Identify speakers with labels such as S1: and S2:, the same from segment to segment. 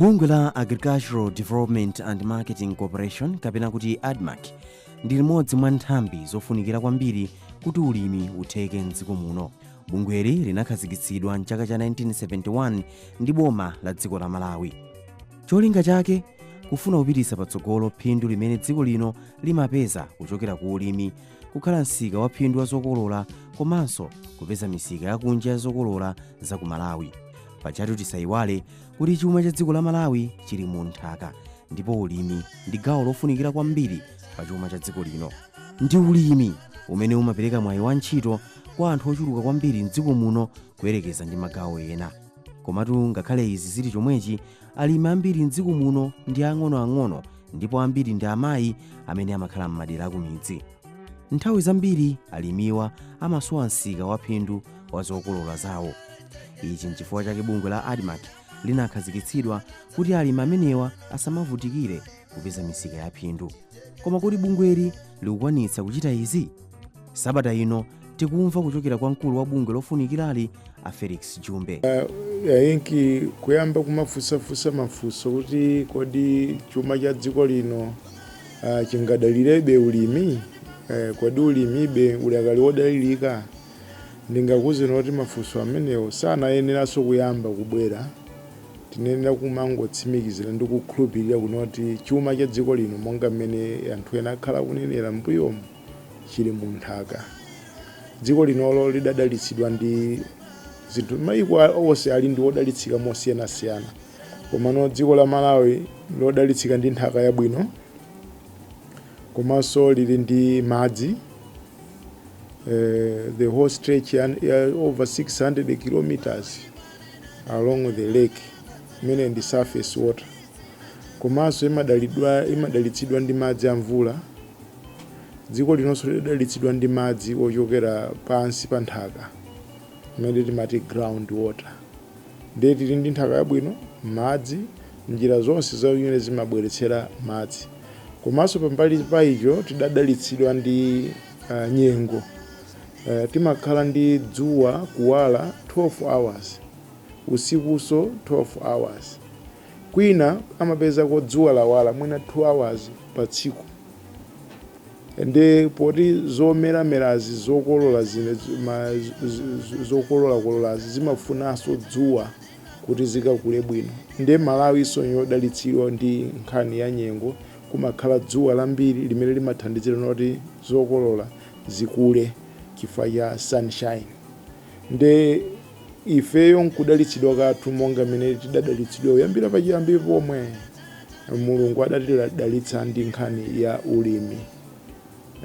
S1: bungwe la agricultural development and marketing corporation kapena kuti admarc ndi limodzi mwa nthambi zofunikira kwambiri kuti ulimi utheke mdziko muno bungweli linakhazikitsidwa mchaka cha 1971 ndi boma la dziko la malawi cholinga chake kufuna kupititsa patsogolo phindu limene dziko lino limapeza kuchokera ku ulimi kukhala msika wa phindu wa zokolola komanso kupeza misika yakunja ya zokolola za ku malawi pajatu tisayiwale kuti chuma cha dziko la malawi chili mu nthaka ndipo ulimi ndi gawo lofunikira kwambiri pa chuma cha dziko lino ndi ulimi umene umapereka mwayi wa ntchito kwa anthu ochuluka kwambiri mdziko muno kuyerekeza ndi magawo ena komatu ngakhale izi zili chomwechi alimi ambiri mdziko muno ndi ang'onoang'ono ndipo ambiri ndi amayi amene amakhala m'madera akumidzi nthawi zambiri alimiwa amasowa msika wa phindu wa zokolola zawo ichi nchifukwa chake bungwe la admarc linakhazikitsidwa kuti alimi amenewa asamavutikire kupeza misika ya phindu koma kodi bungweli likukwanitsa kuchita izi sabata ino tikumva kuchokera kwa mkulu wa bungwe lofunikirali a felix jumbe yainki
S2: kuyamba kumafunsafunsa mafunso kuti kodi chuma cha dziko lino uh, chingadalirebe ulimi uh, kodi ulimibe udakali wodalirika ndingakuuzeni kuti mafunso amenewo sanayeneranso kuyamba kubwera Tinenera kumangotsimikizira ndi kukhulupirira kunoti chuma cha dziko lino, monga mmene anthu ena akhala kunenera m'mbuyomu, chili mu nthaka. Dziko linolo lidadalitsidwa ndi zinthu. Mayiko onse ali ndi odalitsika mosiyanasiyana, komano dziko la Malawi lodalitsika ndi nthaka yabwino komanso lili ndi madzi the whole stretch ya over 600 kilometers. along the lake imene ndi surface water komanso imadalidwa imadalitsidwa ndi madzi a mvula dziko linonso lidalitsidwa ndi madzi ochokera pansi pa nthaka imene timati ground water ndiye tili ndi nthaka yabwino madzi njira zonse zimene zimabweretsera madzi komanso pambali pa icho tidadalitsidwa ndi uh, nyengo timakhala ndi dzuwa kuwala 12 hours usikuso 12 hours kwina amapezako dzuwa lawala mwina 2 hours pa tsiku nde poti zomeramerazi zokolola zinezi zokololakololazi zimafunaso dzuwa kuti zikakule bwino nde malawiso ndi yodalitsidwa ndi nkhani ya nyengo kumakhala dzuwa lambiri limene limathandizira noti zokolola zikule chifukwa cha sunshine nde ifeyo nkudalitsidwa kwathu monga mmene tidadalitsidwa kuyambira pachiyambi pomwe mulungu adatidalitsa ndi nkhani ya ulimi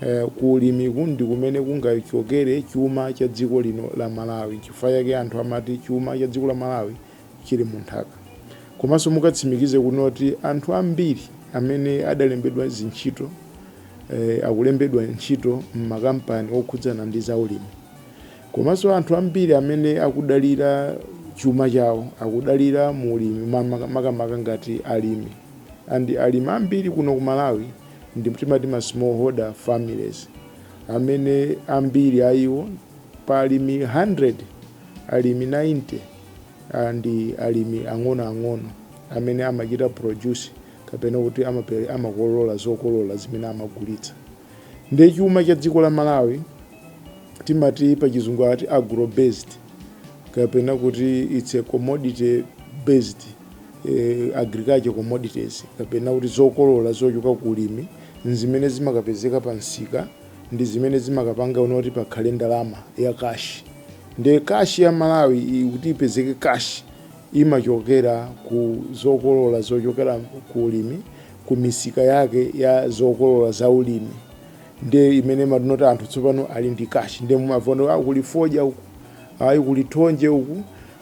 S2: eh, ku ulimiku ndi kumene kungachokere chuma cha dziko lino la malawi chifukwa chake anthu amati chuma cha dziko la malawi chili mu nthaka. Komanso mukatsimikize kuti anthu ambiri amene adalembedwa zintchito eh, akulembedwa ntchito m'makampani okhudzana ndi zaulimi. Komanso anthu ambiri amene akudalira chuma chawo akudalira mu ulimi makamaka ngati alimi and alimi ambiri kuno ku malawi ndi timati ma smallholder families amene ambiri a iwo pa alimi 100 alimi 90 and ndi alimi ang'onoang'ono amene amachita produce kapena kuti amape- amakolola zokolola zimene amagulitsa ndiye chuma cha dziko la malawi timati pa chizungu ati agro based kapena kuti it's a commodity based eh, agriculture commodities kapena kuti zokolola zochoka ku ulimi nzimene zimakapezeka pa msika ndi zimene zimakapanga you know kuti pakhale ndalama ya cash nde cash ya Malawi i- kuti ipezeke cash imachokera ku zokolola zochokera ku ulimi ku misika yake ya zokolola za ulimi nde imene matinoti anthu tsopano ali ndi cash nde mumaona ah, kuli fodya uku ayi kuli thonje uku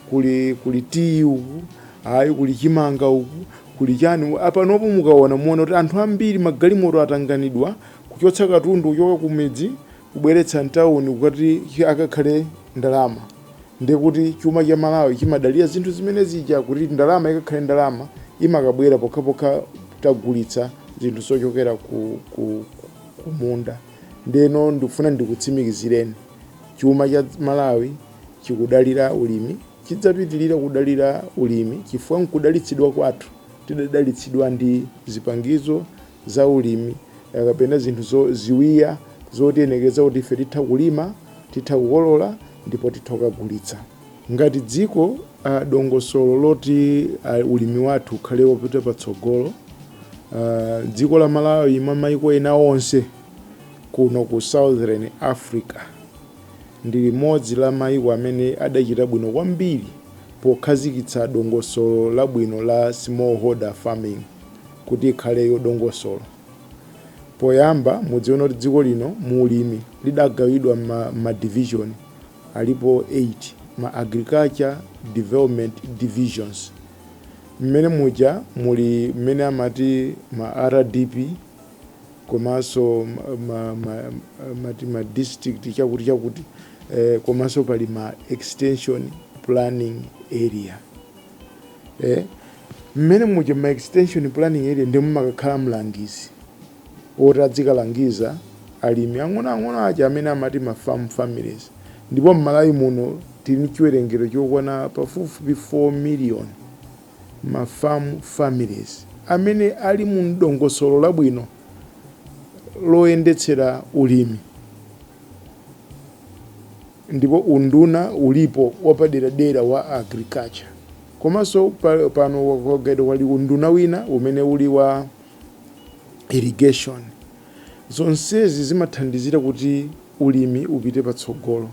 S2: kuli kuli tiyi uku ayi kuli chimanga uku kuli chani apanopo mukaona muona kuti anthu ambiri magalimoto atanganidwa Kuchotsa katundu kuchoka kumidzi kubweretsa mtauni kukati ikakhale ndalama ndiye kuti chuma cha Malawi chimadalira zinthu zimene zija kuti ndalama ikakhale ndalama imakabwera pokhapokha tagulitsa zinthu zochokera ku, ku, ku munda. Ndeno ndifuna ndikutsimikizireni chuma cha Malawi chikudalira ulimi, chidzapitirira kudalira ulimi chifukwa nkudalitsidwa kwathu tidadalitsidwa ndi zipangizo za ulimi kapena zinthu zo, ziwiya zotiyenereza kuti ife titha kulima, titha kukolola ndipo titha kukagulitsa. Ngati dziko a, dongosolo loti a, ulimi wathu ukhale wopita patsogolo a, dziko la Malawi mwa maiko ena onse kuno ku Southern Africa ndi limodzi la maiko amene adachita bwino kwambiri pokhazikitsa dongosolo labwino la smallholder farming. kuti ikhale yodongosolo. Poyamba mudziwe kuti dziko lino mu ulimi lidagawidwa mma mma division alipo 8, ma Agriculture Development Divisions. Mmene muja muli mmene amati ma RDP komanso ma ma amati ma district chakuti chakuti komanso pali ma extension planning area. eh? mmene muja ma extension planning area ndi momwe mumakakhala mlangizi woti adzikalangiza alimi ang'onoang'ono aja amene amati ma farm families ndipo mmalawi muno tili ndi chiwerengero chokwana pafupifupi 4 million ma farm families amene ali mu mdongosolo labwino loyendetsera ulimi ndipo unduna ulipo wapaderadera wa Agriculture komaso pano kwangodwa kuli unduna wina umene uli wa Irrigation zonsezi zimathandizira kuti ulimi upite patsogolo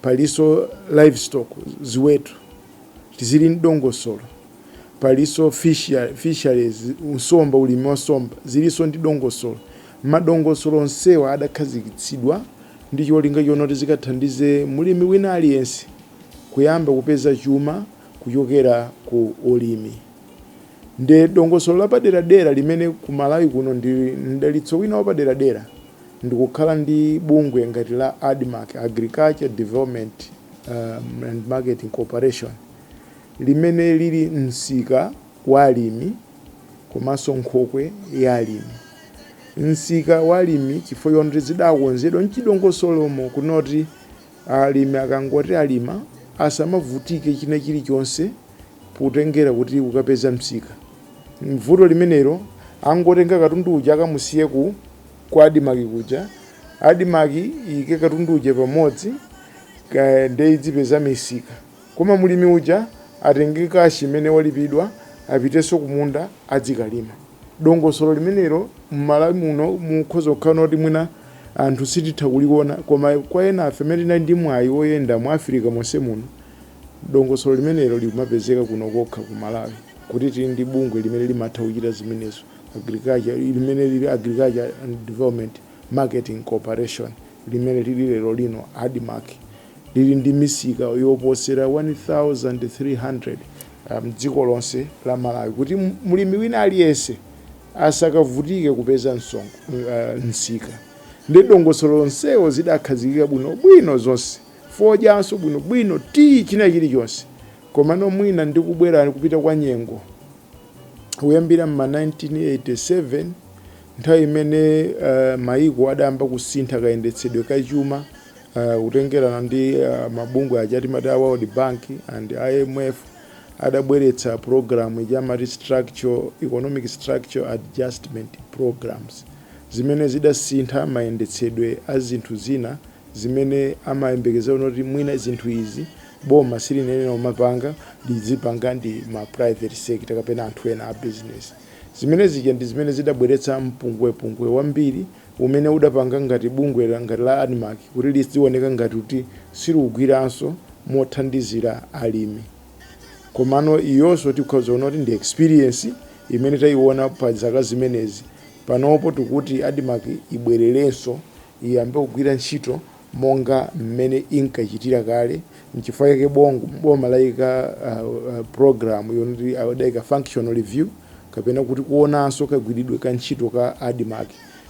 S2: paliso Livestock ziweto zili ndidongosolo paliso Fishery Fisheries nsomba ulimi wa somba ziliso ndi dongosolo madongosolo onsewa adakhazikitsidwa ndi cholinga chonoti zikathandize mlimi wina aliyense kuyamba kupeza chuma kuchokera ku ulimi. Ndi dongosolo lapaderadera limene ku Malawi kuno ndi mdalitso wina wapaderadera ndi kukhala ndi bungwe ngati la Admarc, Agriculture Development and Marketing Corporation, limene lili msika wa alimi komanso nkhokwe ya alimi. Msika wa alimi chifukwa chonoti zidakonzedwa mchidongosolomo kunoti alimi akangoti alima asamavutike china chilichonse potengera kuti kukapeza msika. Vuto limenelo angotenga katundu uja akamusiye ku ku Admarc kuja, Admarc iyike katundu uja pamodzi nde idzipeza misika. Koma mlimi uja atenge kashi imene walipidwa apitenso kumunda adzikalima. Dongosolo limenelo m'Malawi muno mukhoza kukhala noti mwina anthu sititha kuliona koma kwa enafe amene tinali ndi mwayi woyenda mu Africa monse muno, dongosolo limenelo limapezeka kuno kokha ku Malawi kuti tili ndi bungwe limene limatha kuchita zimenezo, Agriculture, limene lili Agriculture and Development Marketing Corporation, limene lili lerolino Admarc. lili ndi misika yoposera 1,300 m'dziko lonse la Malawi kuti mlimi wina aliyense asakavutike kupeza msika ndi dongosolo lonseo zidakhazikika bwino bwino zonse fodyanso bwino bwino tiyi china chili chonse komano mwina ndi kubwera kupita kwa nyengo kuyambira mma 1987 nthawi imene uh, maiko adayamba kusintha kayendetsedwe ka chuma uh, kutengerana ndi uh, mabungwe aja timati a world bank and imf adabweretsa program ija timati economic structure adjustment programs zimene zidasintha mayendetsedwe a zinthu zina zimene amayembekezera kuti mwina zinthu izi boma silinayenera kumapanga zizipangidwa ndi ma private sector kapena anthu ena a business zimene zija ndi zimene zidabweretsa mpungwepungwe wambiri umene udapanga ngati bungwe la ngati la Admarc kuti lizioneka ngati kuti silikugwiranso mothandizira alimi komano iyonso tikhoza kuona kuti ndi experience imene tayiwona pa zaka zimenezi panopo tikuti Admarc ibwererenso iyambe kugwira ntchito monga mmene inkachitira kale. N'chifukwa chake bong, boma laika a, a, program yonoti adaika functional review kapena kuti kuonanso kagwiridwe ka ntchito ka Admarc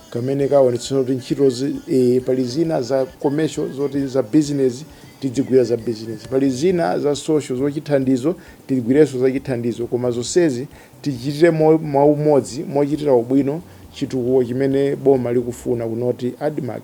S2: kamene kaonetsetsa kuti ntchitozi e, pali zina za commercial zoti za business tidzigwira za business, pali zina za social zochithandizo tigwirenso zachithandizo koma zonsezi tichitire mo, mwaumodzi mochitira ubwino chitukuko chimene boma likufuna kunoti Admarc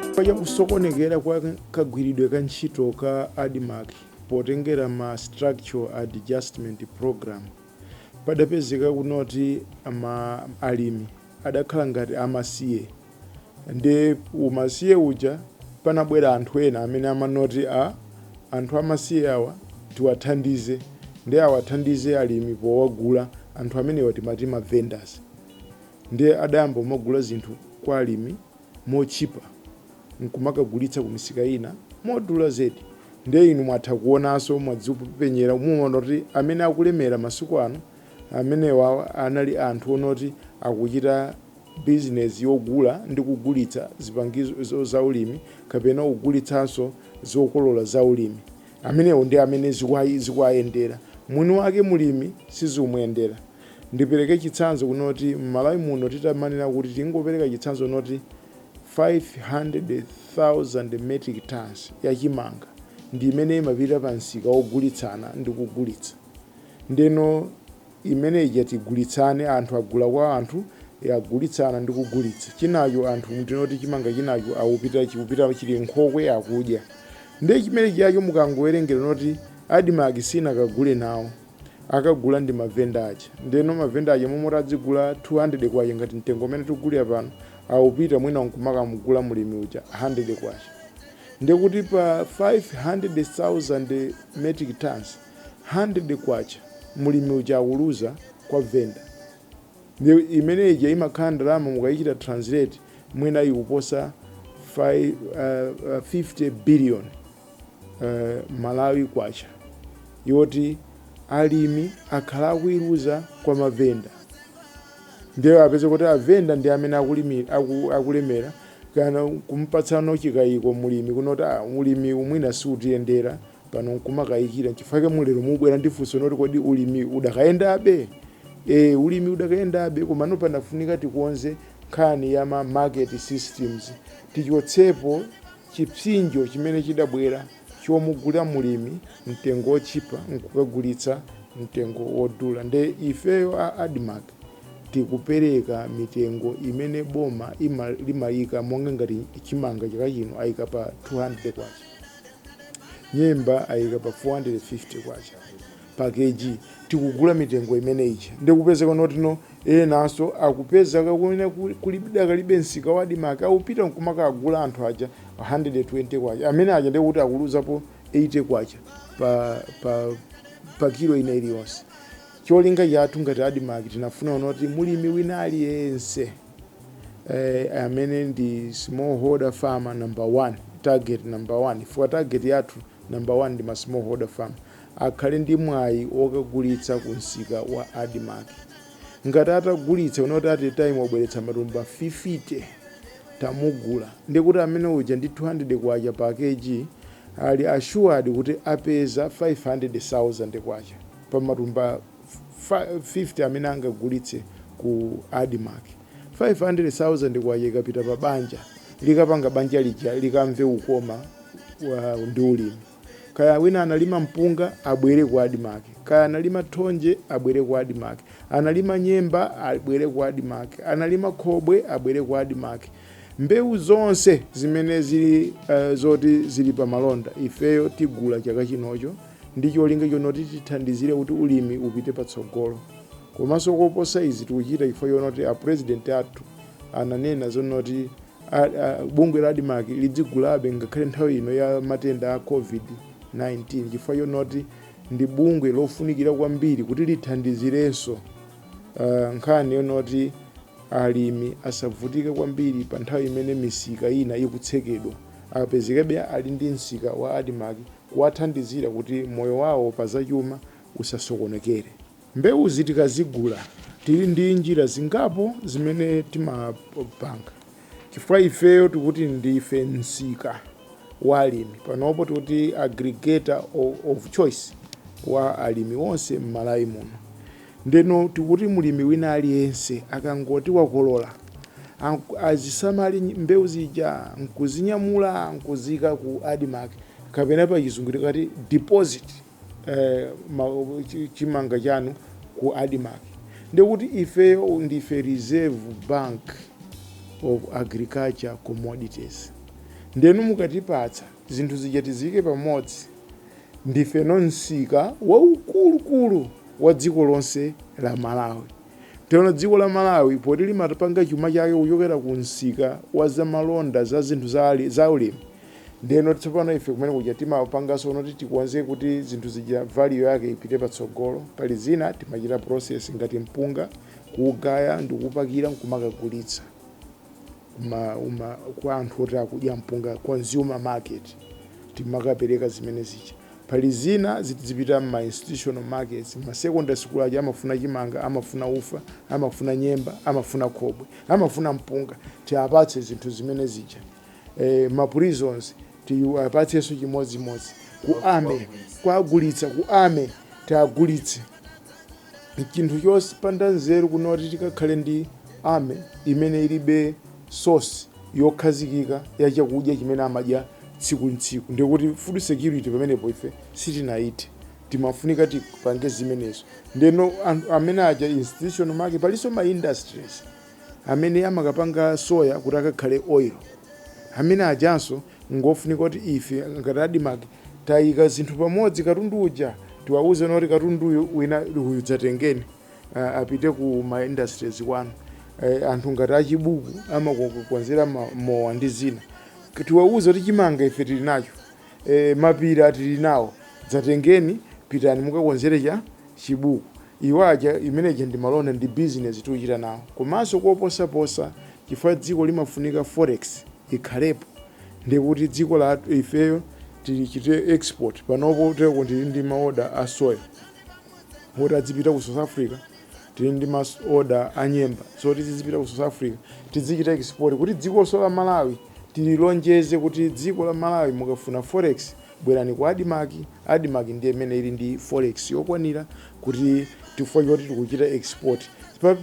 S2: Chifukwa cha kusokonekera kwa kagwiridwe ka ntchito ka Admarc potengera ma Structural Adjustment Programme, padapezeka kunoti alimi adakhala ngati amasiye nde umasiye uja panabwera anthu ena amene amanoti a anthu amasiye awa tiwathandize nde awathandize alimi powagula anthu amenewa timati ma vendors. Ndiye adayamba kumagula zinthu kwa alimi motchipa n'kumakagulitsa kumisika ina modula zedi. Ndiye inu mwatha kuonanso, mwadzipenyera, muona kuti amene akulemera masiku ano, amenewa anali anthu onoti akuchita bizinesi yogula ndi kugulitsa zipangizo zaulimi kapena kugulitsanso zokolola zaulimi. Amenewo ndi amene zikuwayendera. Mwini wake mlimi sizimuyendera. Ndipereke chitsanzo kunoti m'Malawi muno titamanena kuti tingopereka chitsanzo kunoti 500,000 metric tons ya chimanga ndi imene imapita pa msika wogulitsana ndi kugulitsa. Ndeno imene ija tigulitsane, anthu agula kwa anthu, e, agulitsana ndi kugulitsa. Chinacho anthu tinene kuti chimanga chinacho akupita chikupita chili m'nkhokwe akudya. Ndiye chimene chijacho mukangowerengera kunoti Admarc siinakagule nawo. akagula ndi mavenda aja ndeno mavenda aja mmalo moti adzigula 200 kwacha ngati mtengo umene tikugulira pano akupita mwina nkumakamugula mulimi uja 100 kwacha ndekuti pa 500,000 metric tons 100 kwacha mulimi uja akuluza kwa venda ndi imene ija imakhala ndalama mukayichita translate mwina ikuposa 5, uh, uh, 50 billion eh, malawi kwacha yoti alimi akhala akuiluza kwa mavenda ndiye apeze kuti avenda ndi amene akulimi- aku- akulemera kana kumpatsano chikayiko mulimi kunoti ah, ulimiwu mwina siutiyendera pano nkumakayikira nchifukwa chake mulero mubwera ndi funso noti kodi ulimi udakayendabe e, ulimi udakayendabe komano panafunika tikonze nkhani ya ma market systems tichotsepo chipsinjo chimene chidabwera chomugula mulimi mtengo wotchipa nkukagulitsa mtengo wodula nde ifeyo a admarc tikupereka mitengo imene boma ima, limayika monga ngati chimanga chaka chino ayika pa 200 kwacha nyemba ayika pa 450 kwacha pa Kg tikugula mitengo imene ija nde kupezeka kunoti enanso akupezeka kumene kuli kudakalibe msika wa admarc akupita nkumakagula anthu aja K120 amene aja nde kuti akuluzapo K80 pa pa pa kilo ina iliyonse cholinga chathu ngati admarc tinafuna kunoti mulimi wina aliyense eh, amene ndi smallholder farmer number one target number one chifukwa target yathu number one ndi ma smallholder farmer akhale ndi mwayi wokagulitsa ku msika wa Admarc. Ngati atagulitsa kunena kuti at a time wabweretsa matumba 50, tamugula, ndiye kuti amene uja ndi K200 pa kg ali assured kuti apeza K500,000 pa matumba 50 amene angagulitse ku Admarc. K500,000 ikapita pa banja, likapanga banja lija likamve kukoma ndi ulimi. Kaya wina analima mpunga abwere ku Admarc, kaya analima thonje abwere ku Admarc, analima nyemba abwere ku Admarc, analima khobwe abwere ku Admarc. Mbewu zonse zimene zili eh, zoti zili pa malonda ifeyo tigula chaka chinocho ndi cholinga chonoti tithandizire kuti ulimi upite patsogolo. Komanso koposa izi tikuchita chifukwa chonoti a president athu ananena zonoti a, a, bungwe la admarc lidzigulabe ngakhale nthawi ino ya matenda a covid-19 chifukwa chonoti ndi bungwe lofunikira kwambiri kuti lithandizirenso uh, nkhani yonoti alimi asavutike kwambiri pa nthawi imene misika ina ikutsekedwa apezekabe ali ndi msika wa admarc kuwathandizira kuti moyo wawo pa zachuma usasokonekere Mbewuzi tikazigula tili ndi njira zingapo zimene timapanga chifukwa ifeyo tikuti ndife msika wa alimi. Panopo tikuti aggregator of choice wa alimi onse m'Malawi muno. Ndeno tikuti mlimi wina aliyense akangoti wakolola azisamale mbewu zija n'kuzinyamula n'kuziika ku Admarc kapena pachizungu tikati deposit. eh, ma, chi- chimanga chanu ku admarc ndekuti ifeyo ndife reserve bank of agriculture commodities ndeno mukatipatsa zinthu zija tiziyike pamodzi ndife no msika waukulukulu wa dziko lonse la malawi ndeno dziko la malawi poti limapanga chuma chake kuchokera ku msika wa zamalonda za zinthu za ali- za ulimi Ndeno tsopano ife kumene kuja timapanganso zonoti tikonze kuti zinthu zija value yake ipite patsogolo pali zina timachita process ngati mpunga kuugaya ndikuupakira nkumakagulitsa kwa anthu oti akudya mpunga consumer market timakapereka zimene zija pali zina zizipita m'ma institutional markets ma secondary school aja amafuna chimanga amafuna ufa amafuna nyemba amafuna khobwe amafuna mpunga tiwapatse zinthu zimene zija eh, ma prisons tiwapatsenso chimodzimodzi ku army kuwagulitsa ku army tiwagulitse chinthu chosapanda nzeru kunoti tikakhale ndi army imene ilibe source yokhazikika ya chakudya chimene amadya tsiku ntsiku ndekuti food security pamenepo ife sitinayithe timafunika tipange zimenezo ndeno amene aja institutional market palinso ma industries amene amakapanga soya kuti akakhale oil amene ajanso ngofunika kuti ife ngati admarc tayika zinthu pamodzi katundu uja tiwauze zonoti katunduyu wina uyu dzatengeni apite ku ma industries kwanu anthu ngati achibuku amakonzera mowa ndi zina tiwauze kuti chimanga ife tili nacho E, mapira tili nawo, dzatengeni, pitani mukakonzere cha chibuku. Iwo aja imene ija ndi malonda ndi bizinesi tiuchita nawo. Komanso koposaposa chifukwa dziko limafunika forex ikhalepo ndiye kuti dziko lathu ifeyo tilichite export. Panopo kuteko tili ndi maoda a soya oti adzipita ku South Africa, tili ndi maoda a nyemba zoti zizipita ku South Africa tidzichita export kuti dzikonso la Malawi Tililonjeze kuti dziko la Malawi mukafuna forex bwerani ku admarc, admarc ndiye imene ili ndi forex yokwanira kuti chifukwa choti tikuchita export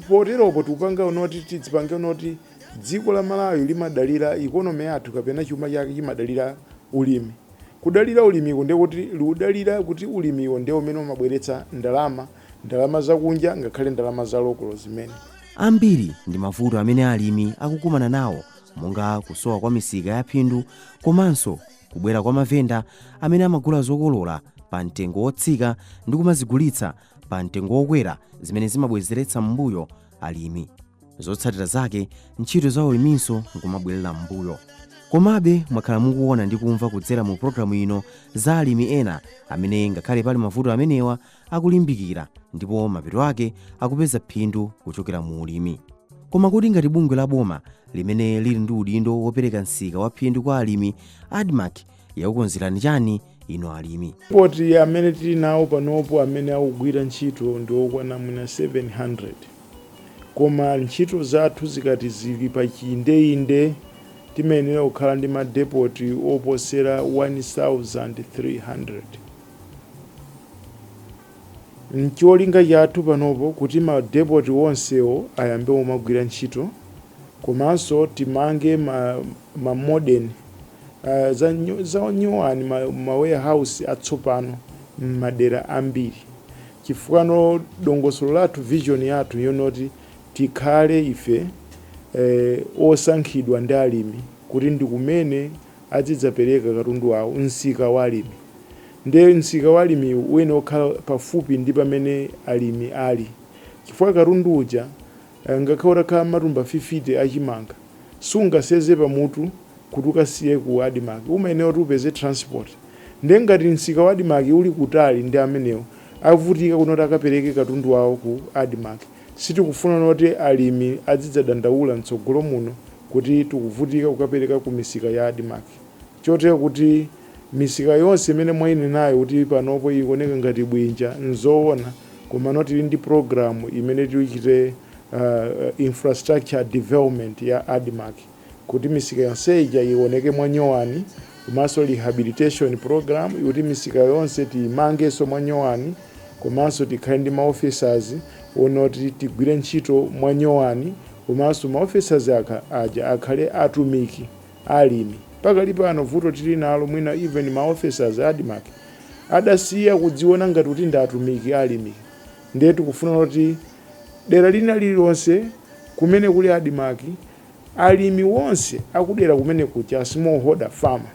S2: poteropo tikupanga noti tidzipange noti dziko la Malawi limadalira economy yathu kapena chuma chake chimadalira ulimi kudalira ulimiko ndiye kuti liudalira kuti ulimiwo ndiye umene umabweretsa ndalama ndalama zakunja ngakhale ndalama za lokolo zimene. Ambiri
S1: ndi mavuto amene alimi akukumana nawo monga kusowa kwa misika ya phindu komanso kubwera kwa mavenda amene amagula zokolola pa mtengo wotsika ndi kumazigulitsa pa mtengo wokwera zimene zimabwezeretsa m'mbuyo alimi zotsatira zake ntchito za uliminso nkumabwerera m'mbuyo komabe mwakhala mukuona ndi kumva kudzera mu pulogalamu ino za alimi ena amene ngakhale pali mavuto amenewa akulimbikira ndipo mapeto ake akupeza phindu kuchokera mu ulimi koma kuti ngati bungwe la boma limene lili ndi udindo wopereka msika wa phindu kwa alimi admarc yakukonzerani chani inu alimi madepoti amene tili
S2: nawo panopo amene akugwira ntchito ndi okwana mwina 700 koma ntchito zathu zikati zili pa chiyindeinde timayenera kukhala ndi madepoti oposera 1300 Ncholinga chathu panopo kuti ma depot onsewo ayambe kumagwira ntchito komanso timange ma modern za nyuwani ma warehouse atsopano mmadera ambiri chifukwa dongosolo lathu vision yathu yonoti tikhale ife osankhidwa ndi alimi kuti ndikumene adzidzapereka katundu wawo msika wa alimi nde msika wa alimi uyenera kukhala pafupi ndi pamene alimi ali chifukwa katundu uja ngakhale utakhala matumba 50 a chimanga sungaseze pamutu kuti ukasiye ku Admarc umayenera kuti upeze transport nde ngati msika wa Admarc uli kutali ndi amenewo avutika kunena kuti akapereke katundu wawo ku Admarc. Sitikufuna noti alimi adzidzadandaula mtsogolo muno kuti tikuvutika kukapereka ku misika ya Admarc. Chotero kuti misika yonse imene mwainenayo kuti panopo ikuoneka ngati bwinja n'zoona komano tili ndi pulogalamu imene tichite infrastructure development ya Admarc. kuti misika yonse ija iwoneke mwanyowani komanso rehabilitation program kuti misika yonse tiyimangenso mwanyowani komanso tikhale ndi maofficers kunoti tigwire ntchito mwanyowani komanso maofficers aja akhale atumiki alimi pakali pano vuto tili nalo mwina even maofficers Admarc adasiya kudziona ngati kuti ndi atumiki alimi ndiye tikufuna kuti dera lina lililonse kumene kuli Admarc Alimi wonse akudera kumene kuja small holder farmer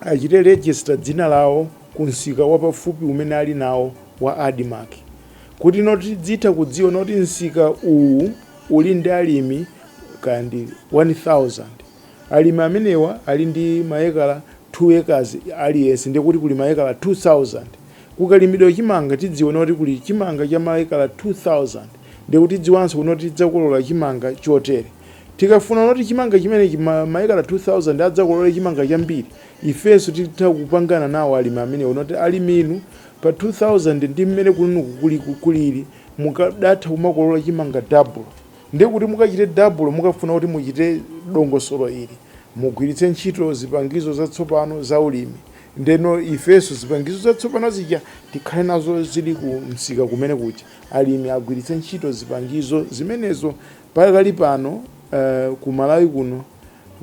S2: achite register dzina lawo ku msika wapafupi umene ali nawo wa Admarc kuti noti tizitha kudziwa noti msika uwu uli ndi alimi kaya ndi 1000 alimi amenewa ali ndi maekala 2 acres aliyense ndiye kuti kuli maekala 2000 kukalimidwe chimanga tidziwe noti kuli chimanga cha maekala 2000 Ndiye kuti tidziwanso kunoti tidzakolola chimanga chotere. Tikafuna kuti chimanga chimenechi, maekala 2,000 adzakolole chimanga chambiri, ifenso titha kupangana nawo alimi amenewa kunoti alimi inu, pa 2,000 ndi mmene kunoku kulili, mukadatha kumakolola chimanga double. Ndiye kuti mukachite double mukafuna kuti muchite dongosolo ili, mugwiritse ntchito zipangizo zatsopano za ulimi. Ndeno ifenso zipangizo zatsopano zija tikhale nazo zili ku msika kumene kuja. alimi agwiritse ntchito zipangizo zimenezo. Pakali pano ku Malawi kuno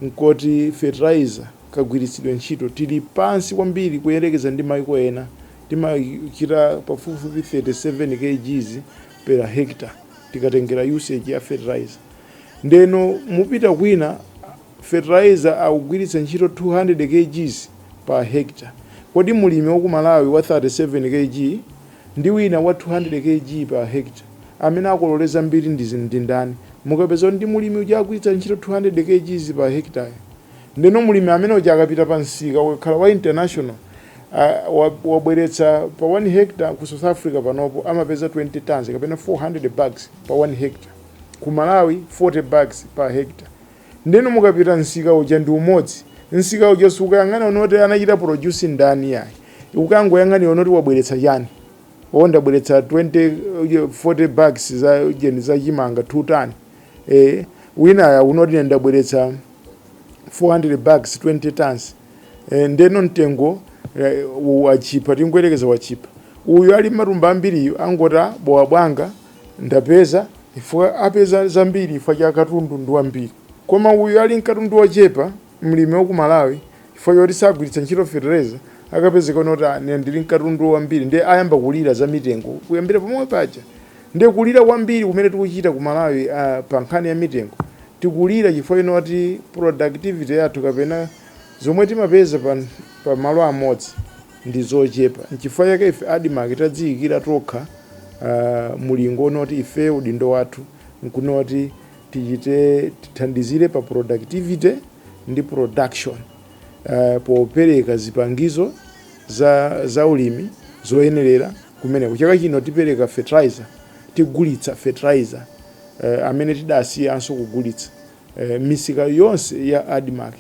S2: nkoti fertilizer kagwiritsidwe ntchito tili pansi kwambiri kuyerekeza ndi maiko ena, timachita pafupifupi 37 kgs per hectare tikatengera usage ya fertilizer. Ndeno mupita kwina fertilizer akugwiritsa ntchito 200 kgs per hectare, kodi mulimi waku Malawi wa 37 kg, ndi wina wa 200 Kg per hectare amene akolole zambiri ndi ndi ndani? Mukapeza kuti ndi mulimi uja agwiritsa ntchito 200 Kgs per hectare ndeno mulimi amene uja akapita pa msika ukakhala wa international wabweretsa pa 1 hectare ku South Africa panopo amapeza 20 tonnes kapena 400 bags pa 1 hectare ku Malawi 40 bags per hectare Ndeno mukapita msika uja ndi umodzi. Msika uja sukayang'ana kunoti anachita produce ndani iyayi. Ukangoyang'ana kunoti wabweretsa chani. O ndabweretsa 20, 40 bags za ujeni za chimanga 2 ton. Eh winayo akunena kuti ine ndabweretsa 400 bags 20 tons. Eh ndeno mtengo watchipa tingoyerekeza watchipa. Uyu ali ndi matumba ambiriyu angoti a bowa bwanga. Ndapeza chifukwa apeza zambiri chifukwa cha katundu ndi wambiri. Koma uyu ali ndi katundu wochepa, mlimi wa ku Malawi, chifukwa choti sagwiritsa ntchito fetereza, akapezeka kunena kuti ah ine ndili ndi katundu wambiri ndiye ayamba kulira za mitengo kuyambira pomwe paja. Ndiye kulira kwambiri kumene tikuchita ku Malawi ah pa nkhani ya mitengo, tikulira chifukwa choti productivity yathu kapena zomwe timapeza pa malo amodzi, ndi zochepa. Nchifukwa chake ife Admarc tadziyikira tokha mulingo wonena kuti ifeyo udindo wathu nkunena kuti tichite tithandizire pa productivity ndi production popereka zipangizo za ulimi zoyenerera kumeneko. Chaka chino tipereka fertilizer, tigulitsa fertilizer amene tidasiyanso kugulitsa. misika yonse ya Admarc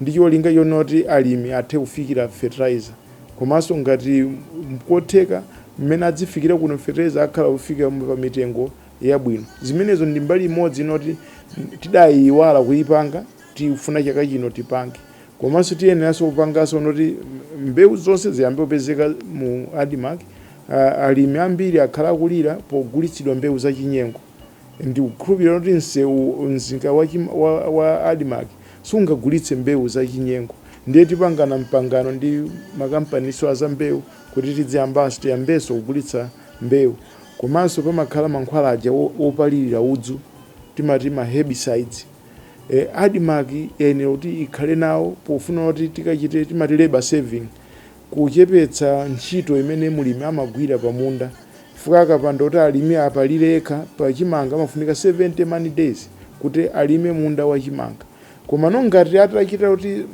S2: ndi cholinga chonena kuti alimi athe kufikira fertilizer komanso ngati nkotheka mmene adzifikira kuno fertilizer akhala akufika pa mitengo yabwino. Zimenezo ndi mbali imodzi yonena kuti tidayiyiwala kuyipanga tikufuna chaka chino tipange. Komanso tiyeneranso kupanganso yonena kuti mbewu zonse ziyambe kupezeka mu Admarc, alimi ambiri akhala akulira pogulitsidwa mbewu zachinyengo. Ndikukhulupirira kuti msewu, msika wa, wa, wa Admarc sungagulitse mbewu za chinyengo. Ndiye tipangana mpangano ndi makampaninso a za mbewu kuti tidziyambanso, tiyambenso kugulitsa mbewu. Komanso pamakhala mankhwala aja wo, wopalirira udzu, timati ma herbicides. E, Admarc yayenera kuti ikhale nawo pofuna kuti tikachite, timati labour saving. kuchepetsa ntchito imene mlimi amagwira pa munda chifukwa akapanda kuti alime apalire yekha pa chimanga amafunika 70 man days kuti alime munda wa chimanga komano ngati atachita kuti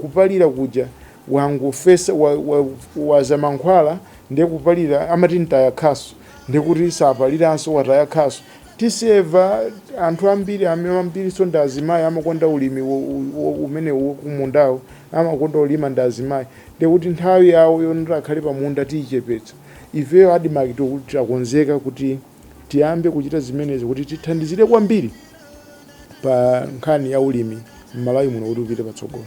S2: kupalira kuja wangofesa wa, wa, waza mankhwala ndiye kupalira amati mtaya khasu ndiye kuti sapaliranso wataya khasu tiseva anthu ambiri ambirinso ndi azimayi amakonda ulimi umenewu kumundawo amakonda kulima ndi azimayi Ndiye kuti nthawi yawo yonoti akhale pamunda tiichepetsa. Ifeyo a Admarc takonzeka kuti tiyambe kuchita zimenezi kuti tithandizire kwambiri pa nkhani ya ulimi m'Malawi muno kuti upite patsogolo.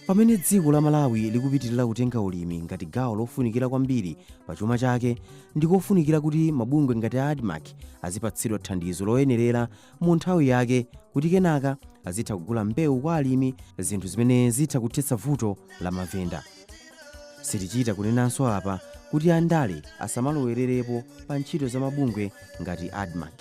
S2: Pamene
S1: dziko la Malawi likupitirira kutenga ulimi ngati gawo lofunikira kwambiri pa chuma chake, ndi kofunikira kuti mabungwe ngati a Admarc azipatsidwa thandizo loyenerera mu nthawi yake kuti kenaka azitha kugula mbewu kwa alimi zinthu zimene zitha kuthetsa vuto la mavenda sitichita kunenanso apa kuti andale asamalowererepo pa ntchito za mabungwe ngati admarc